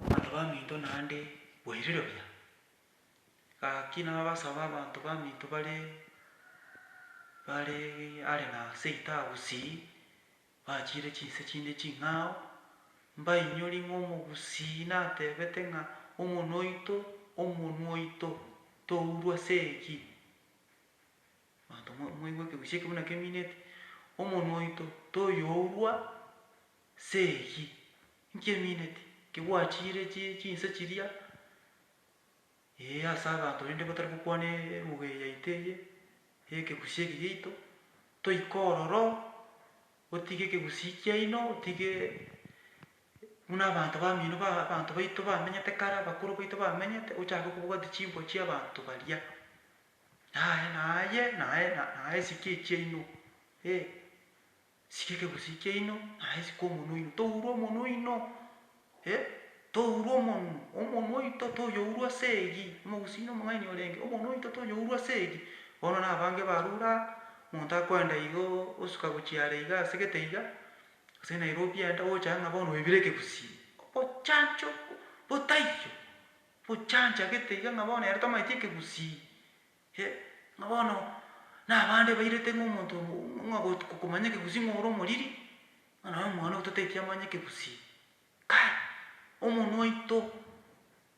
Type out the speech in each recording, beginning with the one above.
Abanto baminto naende boirire buya. Gaki nabasaba abanto baminto bare bare are na seita agusii, bachiire chinse chinde ching'ao, mbainyorie ng'a omogusii natebete ng'a omonwa oito, omonwa oito tourwa ase eyio. Abanto moigwe ekegusii eke buna kemineti, omonwa oito toyourwa Nse eyio inki emineti? Inki gwachiire chi, chinse chiria, ee, ase abanto rende batari gokwana eruga eye yaito eye, ey'ekegusii eke giaito, toike ororo, otige ekegusii kiaino, otige buna abanto bamino ba abanto baito bamenyete kare, abakoro baito bamenyete, ochake kobwatia chimbo chia abanto baria. Naye naye naye na naye esike chiaino, ee. Sika ekegusi kiaino, naye sika omonwa oino. Tourwa omonwa oino, eh, tourwa omonwa, omonwa oito toyourwa ase eyio, omogusi oino omong'aini orenge, omonwa oito toyourwa ase eyio. Bono nabange barure aa, omonto akoenda igo osuka gochia are iga ase gete iga, ase Nairobi enda, ogocha aye ng'a bono oibire ekegusi, obochancho botaiyo, obochancha gete iga ng'a bono ere tamaeti ekegusi. Eh, ng'a bono nabande bairete ng'a omonto obo ng'a got- komanya ekegusii ng'a ore omoriri, ng'a naye omwana oito teti amanya ekegusii. Kai, omonwa oito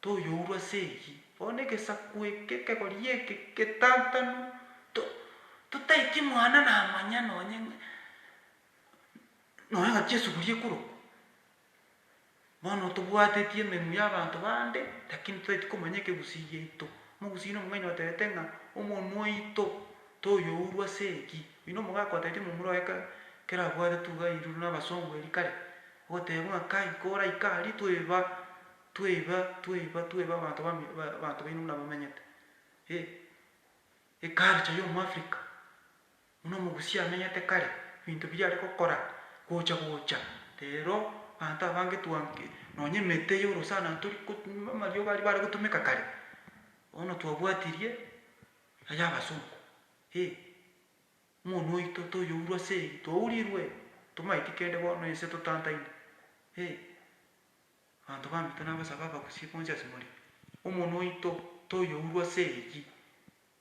toyourwa ase eyio, bono egesaku eke ekegori eke getantanu, to- totaeti mwana namanya nonye ng'a nonya ng'a chiesuguria ekorokwa. Bono tobwateti emenwa y'abanto bande, lakini totaeti komanya ekegusii giaito. Omogusii oino omong'aini otebete ng'a omonwa oito toyourwa ase eki. Oyio nomogaka otebeti momura oye kare, kera abwate tuga airurwe nabasongo eria kare, ogoteba ng'a kai koraika aria tweba, tweba, tweba, tweba abanto bami abanto baino buna bamenyete. Eeh, eculture y'omo Africa. Buna omogusi amenyete kare ebinto biria are gokora gocha gocha rero abanto abange twa nonya emete y'orosana tori ko amariogo aria bare gotumeka kare bono twabwatirie ay'abasongo eh omonu oito toyourwa ase eyio twaurirwe tomaeti kende bono ense totantaine eh abanto bamito nabasabe abagusi bonsi ase more omonu oito toyourwa ase eyio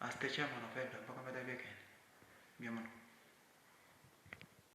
Ase Techiamono Febe, mpaka omete ebiekende, mbuya mono.